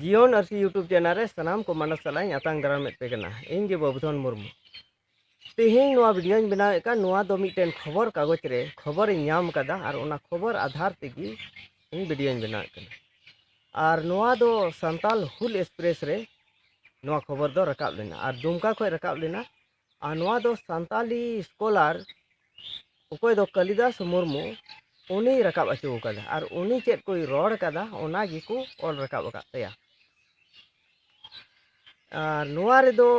ᱡᱤᱭᱚᱱ ᱟᱹᱨᱥᱤ YouTube channel ᱨᱮ ᱥᱟᱱᱟᱢ ᱠᱚ ᱢᱟᱱᱚᱥ ᱥᱟᱞᱟᱜ ᱤᱧ ᱟᱛᱟᱝ ᱫᱟᱨᱟᱢᱮᱫ ᱯᱮ ᱠᱟᱱᱟ ᱤᱧ ᱜᱮ ᱵᱟᱵᱩᱫᱷᱚᱱ ᱢᱩᱨᱢᱩ ᱛᱮᱦᱮᱧ ᱱᱚᱣᱟ ᱵᱷᱤᱰᱤᱭᱳᱧ ᱵᱮᱱᱟᱣᱮᱫ ᱠᱟᱱ ᱱᱚᱣᱟ ᱫᱚ ᱢᱤᱫᱴᱮᱱ ᱠᱷᱚᱵᱚᱨ ᱠᱟᱜᱚᱡᱽ ᱨᱮ ᱠᱷᱚᱵᱚᱨᱤᱧ ᱧᱟᱢ ᱟᱠᱟᱫᱟ ᱟᱨ ᱚᱱᱟ ᱠᱷᱚᱵᱚᱨ ᱟᱫᱷᱟᱨ ᱛᱮᱜᱮ ᱤᱧ ᱵᱷᱤᱰᱤᱭᱳᱧ ᱵᱮᱱᱟᱣᱮᱫ ᱠᱟᱱᱟ ᱟᱨ ᱱᱚᱣᱟ ᱫᱚ ᱥᱟᱱᱛᱟᱞ ᱦᱩᱞ ᱮᱠᱥᱯᱨᱮᱥ ᱨᱮ ᱱᱚᱣᱟ ᱠᱷᱚᱵᱚᱨ ᱫᱚ ᱨᱟᱠᱟᱵ ᱞᱮᱱᱟ ᱟᱨ ᱫᱩᱢᱠᱟ ᱠᱷᱚᱱ ᱨᱟᱠᱟᱵ ᱞᱮᱱᱟ ᱟᱨ ᱱᱚᱣᱟ ᱫᱚ ᱥᱟᱱᱛᱟᱞᱤ ᱥᱠᱚᱞᱟᱨ ᱚᱠᱚᱭ ᱫᱚ ᱠᱟᱞᱤᱫᱟᱥ ᱢᱩᱨᱢᱩ ᱩᱱᱤᱭ ᱨᱟᱠᱟᱵ ᱚᱪᱚ ᱟᱠᱟᱫᱟ ᱟᱨ ᱩᱱᱤ ᱪᱮᱫ ᱠᱚᱭ ᱨᱚᱲ ᱟᱠᱟᱫᱟ ᱚᱱᱟ ᱜᱮᱠᱚ ᱚᱞ ᱨᱟᱠᱟᱵ ᱟᱠᱟᱫ ᱛᱟᱭᱟ ᱟᱨ ᱱᱚᱣᱟ ᱨᱮᱫᱚ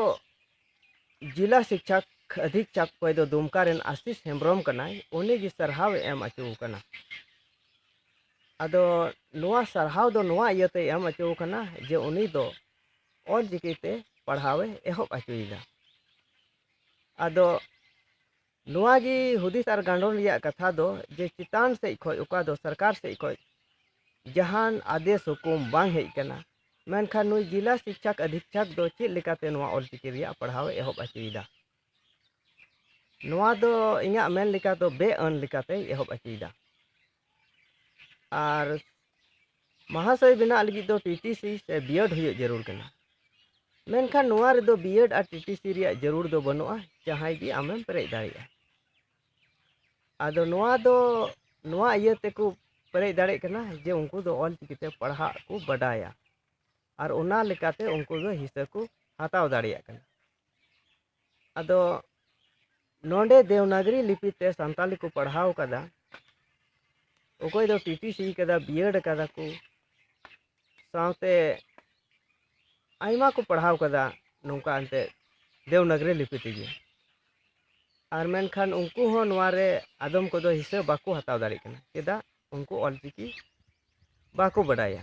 ᱡᱤᱞᱟ ᱥᱤᱠᱪᱷᱟᱠ ᱟᱫᱷᱤᱠᱪᱷᱟᱠ ᱚᱠᱚᱭ ᱫᱚ ᱫᱩᱢᱠᱟ ᱨᱮᱱ ᱟᱥᱤᱥ ᱦᱮᱢᱵᱨᱚᱢ ᱠᱟᱱᱟᱭ ᱩᱱᱤ ᱜᱮ ᱥᱟᱨᱦᱟᱣ ᱮᱢ ᱚᱪᱚ ᱟᱠᱟᱱᱟ ᱟᱫᱚ ᱱᱚᱣᱟ ᱥᱟᱨᱦᱟᱣ ᱫᱚ ᱱᱚᱣᱟ ᱤᱭᱟᱹᱛᱮ ᱮᱢ ᱚᱪᱚ ᱟᱠᱟᱱᱟ ᱡᱮ ᱩᱱᱤ ᱫᱚ ᱚᱞ ᱪᱤᱠᱤ ᱛᱮ ᱯᱟᱲᱦᱟᱣ ᱮ ᱮᱦᱚᱵ ᱚᱪᱚᱭᱮᱫᱟ ᱟᱫᱚ ᱱᱚᱣᱟ ᱜᱮ ᱦᱩᱫᱤᱥ ᱟᱨ ᱜᱟᱸᱰᱚᱱ ᱨᱮᱭᱟᱜ ᱠᱟᱛᱷᱟ ᱫᱚ ᱡᱮ ᱪᱮᱛᱟᱱ ᱥᱮᱫ ᱠᱷᱚᱱ ᱚᱠᱟ ᱫᱚ ᱥᱚᱨᱠᱟᱨ ᱥᱮᱫ ᱠᱷᱚᱱ ᱡᱟᱦᱟᱱ ᱟᱫᱮᱥ ᱦᱩᱠᱩᱢ ᱵᱟᱝ ᱦᱮᱡ ᱟᱠᱟᱱᱟ ᱢᱮᱱᱠᱷᱟᱱ ᱱᱩᱭ ᱡᱤᱞᱟ ᱥᱤᱠᱪᱷᱟᱠ ᱟᱫᱷᱤᱠᱪᱷᱟᱠ ᱫᱚ ᱪᱮᱫ ᱞᱮᱠᱟᱛᱮ ᱱᱚᱣᱟ ᱚᱞ ᱪᱤᱠᱤ ᱨᱮᱭᱟᱜ ᱯᱟᱲᱦᱟᱣ ᱮ ᱮᱦᱚᱵ ᱚᱪᱚᱭᱮᱫᱟ ᱱᱚᱣᱟ ᱫᱚ ᱤᱧᱟᱹᱜ ᱢᱮᱱ ᱞᱮᱠᱟ ᱫᱚ ᱵᱮᱼᱟᱹᱱ ᱞᱮᱠᱟᱛᱮᱭ ᱮᱦᱚᱵ ᱚᱪᱚᱭᱮᱫᱟ ᱟᱨ ᱢᱟᱦᱟᱥᱚᱭ ᱵᱮᱱᱟᱜ ᱞᱟᱹᱜᱤᱫ ᱫᱚ ᱴᱤᱴᱤᱥᱤ ᱥᱮ ᱵᱤᱭᱮᱰ ᱦᱩᱭᱩᱜ ᱡᱟᱹᱨᱩᱲ ᱠᱟᱱᱟ ᱢᱮᱱᱠᱷᱟᱱ ᱱᱚᱣᱟ ᱨᱮᱫᱚ ᱵᱤᱭᱮᱰ ᱟᱨ ᱴᱤᱴᱤᱥᱤ ᱨᱮᱭᱟᱜ ᱡᱟᱹᱨᱩᱲ ᱫᱚ ᱵᱟᱹᱱᱩᱜᱼᱟ ᱡᱟᱦᱟᱸᱭ ᱜᱮ ᱟᱢᱮᱢ ᱯᱮᱨᱮᱡ ᱫᱟᱲᱮᱭᱟᱜᱼᱟ ᱟᱫᱚ ᱱᱚᱣᱟ ᱫᱚ ᱱᱚᱣᱟ ᱤᱭᱟᱹ ᱛᱮᱠᱚ ᱯᱮᱨᱮᱡ ᱫᱟᱲᱮᱭᱟᱜ ᱠᱟᱱᱟ ᱡᱮ ᱩᱱᱠᱩ ᱫᱚ ᱚᱞ ᱪᱤᱠᱤᱛᱮ ᱯᱟᱲᱦᱟᱜ ᱠᱚ ᱵᱟᱰᱟᱭᱟ ᱟᱨ ᱚᱱᱟ ᱞᱮᱠᱟᱛᱮ ᱩᱱᱠᱩ ᱫᱚ ᱦᱤᱥᱟᱹ ᱠᱚ ᱦᱟᱛᱟᱣ ᱫᱟᱲᱮᱭᱟᱜ ᱠᱟᱱᱟ ᱟᱫᱚ ᱱᱚᱰᱮ ᱫᱮᱣᱱᱟᱜᱨᱤ ᱞᱤᱯᱤ ᱛᱮ ᱥᱟᱱᱛᱟᱞᱤ ᱠᱚ ᱯᱟᱲᱦᱟᱣ ᱠᱟᱫᱟ ᱚᱠᱚᱭ ᱫᱚ ᱯᱤᱴᱤᱥᱤ ᱠᱟᱫᱟ ᱵᱤᱭᱮᱰ ᱠᱟᱫᱟ ᱠᱚ ᱥᱟᱶᱛᱮ ᱟᱭᱢᱟ ᱠᱚ ᱯᱟᱲᱦᱟᱣ ᱠᱟᱫᱟ ᱱᱚᱝᱠᱟ ᱮᱱᱛᱮ ᱫᱮᱣᱱᱟᱜᱨᱤ ᱞᱤᱯᱤ ᱛᱮᱜᱮ ᱟᱨ ᱢᱮᱱᱠᱷᱟᱱ ᱩᱱᱠᱩ ᱦᱚᱸ ᱱᱚᱣᱟ ᱨᱮ ᱟᱫᱚᱢ ᱠᱚᱫᱚ ᱦᱤᱥᱟᱹ ᱵᱟᱠᱚ ᱦᱟᱛᱟᱣ ᱫᱟᱲᱮᱭᱟᱜ ᱠᱟᱱᱟ ᱪᱮᱫᱟᱜ ᱩᱱᱠᱩ ᱚᱞᱪᱤᱠᱤ ᱵᱟᱠᱚ ᱵᱟᱰᱟᱭᱟ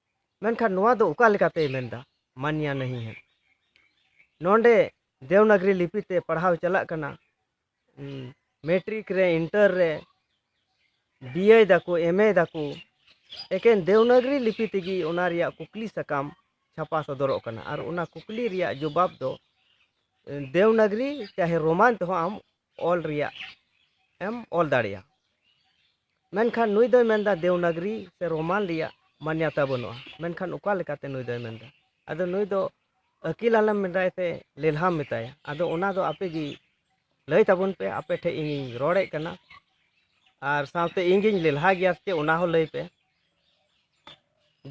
ᱢᱮᱱᱠᱷᱟᱱ ᱱᱚᱣᱟ ᱫᱚ ᱚᱠᱟ ᱞᱮᱠᱟᱛᱮᱭ ᱢᱮᱱᱫᱟ ᱢᱟᱱᱭᱟ ᱱᱟᱦᱤ ᱦᱮ ᱱᱚᱰᱮ ᱫᱮᱣᱱᱟᱜᱨᱤ ᱞᱤᱯᱤ ᱛᱮ ᱯᱟᱲᱦᱟᱣ ᱪᱟᱞᱟᱜ ᱠᱟᱱᱟ ᱢᱮᱴᱨᱤᱠ ᱨᱮ ᱤᱱᱴᱟᱨ ᱨᱮ ᱵᱤᱭᱮ ᱫᱟᱠᱚ ᱮᱢᱮ ᱫᱟᱠᱚ ᱮᱠᱮᱱ ᱫᱮᱣᱱᱟᱜᱨᱤ ᱞᱤᱯᱤ ᱛᱮᱜᱮ ᱚᱱᱟ ᱨᱮᱭᱟᱜ ᱠᱩᱠᱞᱤ ᱥᱟᱠᱟᱢ ᱪᱷᱟᱯᱟ ᱥᱚᱫᱚᱨᱚᱜ ᱠᱟᱱᱟ ᱟᱨ ᱚᱱᱟ ᱠᱩᱠᱞᱤ ᱨᱮᱭᱟᱜ ᱡᱚᱵᱟᱵ ᱫᱚ ᱫᱮᱣᱱᱟᱜᱨᱤ ᱪᱟᱦᱮ ᱨᱳᱢᱟᱱ ᱛᱮᱦᱚᱸ ᱟᱢ ᱚᱞ ᱨᱮᱭᱟᱜ ᱮᱢ ᱚᱞ ᱫᱟᱲᱮᱭᱟᱜᱼᱟ ᱢᱮᱱᱠᱷᱟᱱ ᱱᱩᱭ ᱫᱚᱭ ᱢᱮᱱᱫᱟ ᱫᱮᱣᱱᱟᱜᱽᱨᱤ ᱥᱮ ᱨᱳᱢᱟᱱ ᱨᱮᱭᱟᱜ ᱢᱟᱱᱭᱟᱛᱟ ᱵᱟᱹᱱᱩᱜᱼᱟ ᱢᱮᱱᱠᱷᱟᱱ ᱚᱠᱟ ᱞᱮᱠᱟᱛᱮ ᱱᱩᱭ ᱫᱚᱭ ᱢᱮᱱᱫᱟ ᱟᱫᱚ ᱱᱩᱭ ᱫᱚ ᱟᱹᱠᱤᱞ ᱟᱞᱚᱢ ᱢᱮᱛᱟᱭ ᱛᱮ ᱞᱮᱞᱦᱟᱢ ᱢᱮᱛᱟᱭᱟ ᱟᱫᱚ ᱚᱱᱟ ᱫᱚ ᱟᱯᱮ ᱜᱮ ᱞᱟᱹᱭ ᱛᱟᱵᱚᱱ ᱯᱮ ᱟᱯᱮ ᱴᱷᱮᱱ ᱤᱧᱤᱧ ᱨᱚᱲᱮᱫ ᱠᱟᱱᱟ ᱟᱨ ᱥᱟᱶᱛᱮ ᱤᱧ ᱜᱤᱧ ᱞᱮᱞᱦᱟ ᱜᱮᱭᱟ ᱥᱮ ᱚᱱᱟ ᱦᱚᱸ ᱞᱟᱹᱭ ᱯᱮ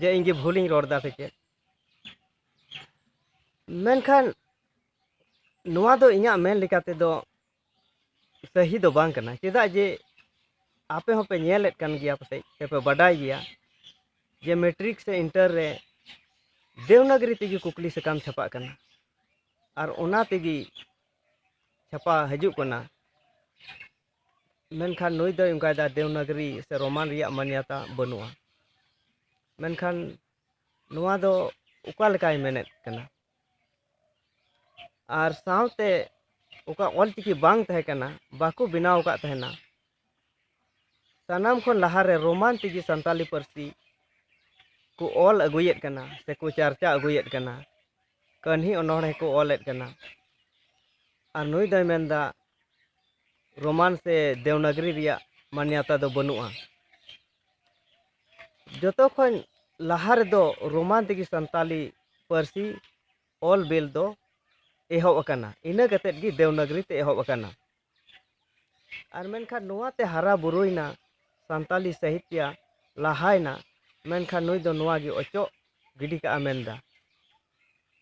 ᱡᱮ ᱤᱧ ᱜᱮ ᱵᱷᱩᱞᱤᱧ ᱨᱚᱲ ᱮᱫᱟ ᱥᱮ ᱪᱮᱫ ᱢᱮᱱᱠᱷᱟᱱ ᱱᱚᱣᱟ ᱫᱚ ᱤᱧᱟᱹᱜ ᱢᱮᱱ ᱞᱮᱠᱟ ᱛᱮᱫᱚ ᱥᱟᱹᱦᱤ ᱫᱚ ᱵᱟᱝ ᱠᱟᱱᱟ ᱪᱮᱫᱟᱜ ᱡᱮ ᱟᱯᱮ ᱦᱚᱸᱯᱮ ᱧᱮᱞᱮᱫ ᱠᱟᱱ ᱜᱮᱭᱟ ᱯᱟᱥᱮᱡ ᱥᱮᱯᱮ ᱵᱟᱰᱟᱭ ᱜᱮᱭᱟ ᱡᱮ ᱢᱮᱴᱨᱤᱠ ᱥᱮ ᱤᱱᱴᱟᱨ ᱨᱮ ᱫᱮᱣᱱᱟᱜᱨᱤ ᱛᱮᱜᱮ ᱠᱩᱠᱞᱤ ᱥᱟᱠᱟᱢ ᱪᱷᱟᱯᱟᱜ ᱠᱟᱱᱟ ᱟᱨ ᱚᱱᱟ ᱛᱮᱜᱮ ᱪᱷᱟᱯᱟ ᱦᱤᱡᱩᱜ ᱠᱟᱱᱟ ᱢᱮᱱᱠᱷᱟᱱ ᱱᱩᱭ ᱫᱚᱭ ᱚᱱᱠᱟᱭᱮᱫᱟ ᱫᱮᱣᱱᱟᱜᱨᱤ ᱥᱮ ᱨᱳᱢᱟᱱ ᱨᱮᱭᱟᱜ ᱢᱟᱱᱭᱟᱛᱟ ᱵᱟᱹᱱᱩᱜᱼᱟ ᱢᱮᱱᱠᱷᱟᱱ ᱱᱚᱣᱟ ᱫᱚ ᱚᱠᱟ ᱞᱮᱠᱟᱭ ᱢᱮᱱᱮᱫ ᱠᱟᱱᱟ ᱟᱨ ᱥᱟᱶᱛᱮ ᱚᱠᱟ ᱚᱞᱪᱤᱠᱤ ᱵᱟᱝ ᱛᱟᱦᱮᱸ ᱠᱟᱱᱟ ᱵᱟᱠᱚ ᱵᱮᱱᱟᱣ ᱟᱠᱟᱫ ᱛᱟᱦᱮᱱᱟ ᱥᱟᱱᱟᱢ ᱠᱷᱚᱱ ᱞᱟᱦᱟᱨᱮ ᱨᱳᱢᱟᱱ ᱛᱮᱜᱮ ᱥᱟᱱᱛᱟᱞᱤ ᱯᱟᱹᱨᱥᱤ ᱠᱚ ᱚᱞ ᱟᱹᱜᱩᱭᱮᱫ ᱠᱟᱱᱟ ᱥᱮᱠᱚ ᱪᱟᱨᱪᱟ ᱟᱹᱜᱩᱭᱮᱫ ᱠᱟᱱᱟ ᱠᱟᱹᱦᱱᱤ ᱚᱱᱚᱬᱦᱮ ᱠᱚ ᱚᱞᱮᱫ ᱠᱟᱱᱟ ᱟᱨ ᱱᱩᱭ ᱫᱚᱭ ᱢᱮᱱᱫᱟ ᱨᱳᱢᱟᱱ ᱥᱮ ᱫᱮᱣᱱᱟᱜᱽᱨᱤ ᱨᱮᱭᱟᱜ ᱢᱟᱱᱭᱟᱛᱟ ᱫᱚ ᱵᱟᱹᱱᱩᱜᱼᱟ ᱡᱚᱛᱚ ᱠᱷᱚᱱ ᱞᱟᱦᱟ ᱨᱮᱫᱚ ᱨᱳᱢᱟᱱ ᱛᱮᱜᱮ ᱥᱟᱱᱛᱟᱞᱤ ᱯᱟᱹᱨᱥᱤ ᱚᱞ ᱵᱤᱞ ᱫᱚ ᱮᱦᱚᱵ ᱟᱠᱟᱱᱟ ᱤᱱᱟᱹ ᱠᱟᱛᱮᱫ ᱜᱮ ᱫᱮᱣᱱᱟᱜᱽᱨᱤ ᱛᱮ ᱮᱦᱚᱵ ᱟᱠᱟᱱᱟ ᱟᱨ ᱢᱮᱱᱠᱷᱟᱱ ᱱᱚᱣᱟ ᱛᱮ ᱦᱟᱨᱟ ᱵᱩᱨᱩᱭᱮᱱᱟ ᱥᱟᱱᱛᱟᱞᱤ ᱥᱟᱦᱤᱛᱭᱟ ᱞᱟᱦᱟᱭᱮᱱᱟ ᱢᱮᱱᱠᱷᱟᱱ ᱱᱩᱭ ᱫᱚ ᱱᱚᱣᱟ ᱜᱮ ᱚᱪᱚᱜ ᱜᱤᱰᱤ ᱠᱟᱜᱼᱟ ᱢᱮᱱᱫᱟ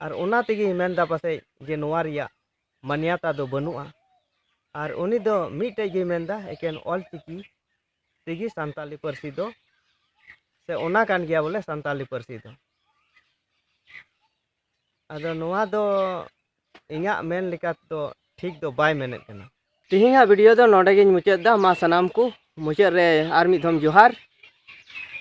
ᱟᱨ ᱚᱱᱟ ᱛᱮᱜᱮ ᱢᱮᱱᱫᱟ ᱯᱟᱥᱮᱡ ᱡᱮ ᱱᱚᱣᱟ ᱨᱮᱭᱟᱜ ᱢᱟᱱᱭᱟᱛᱟ ᱫᱚ ᱵᱟᱹᱱᱩᱜᱼᱟ ᱟᱨ ᱩᱱᱤ ᱫᱚ ᱢᱤᱫᱴᱮᱡ ᱜᱮ ᱢᱮᱱᱫᱟ ᱮᱠᱮᱱ ᱚᱞᱪᱤᱠᱤ ᱛᱮᱜᱮ ᱥᱟᱱᱛᱟᱞᱤ ᱯᱟᱹᱨᱥᱤ ᱫᱚ ᱥᱮ ᱚᱱᱟ ᱠᱟᱱ ᱜᱮᱭᱟ ᱵᱚᱞᱮ ᱥᱟᱱᱛᱟᱞᱤ ᱯᱟᱹᱨᱥᱤ ᱫᱚ ᱟᱫᱚ ᱱᱚᱣᱟ ᱫᱚ ᱤᱧᱟᱹᱜ ᱢᱮᱱ ᱞᱮᱠᱟ ᱫᱚ ᱴᱷᱤᱠ ᱫᱚ ᱵᱟᱭ ᱢᱮᱱᱮᱫ ᱠᱟᱱᱟ ᱛᱮᱦᱮᱧᱟᱜ ᱵᱷᱤᱰᱤᱭᱳ ᱫᱚ ᱱᱚᱰᱮ ᱜᱤᱧ ᱢᱩᱪᱟᱹᱫ ᱮᱫᱟ ᱢᱟ ᱥᱟᱱᱟᱢ ᱠᱚ ᱢᱩᱪᱟᱹᱫ ᱨᱮ ᱟᱨ ᱢᱤᱫ ᱫᱷᱚᱢ ᱡᱚᱦᱟᱨ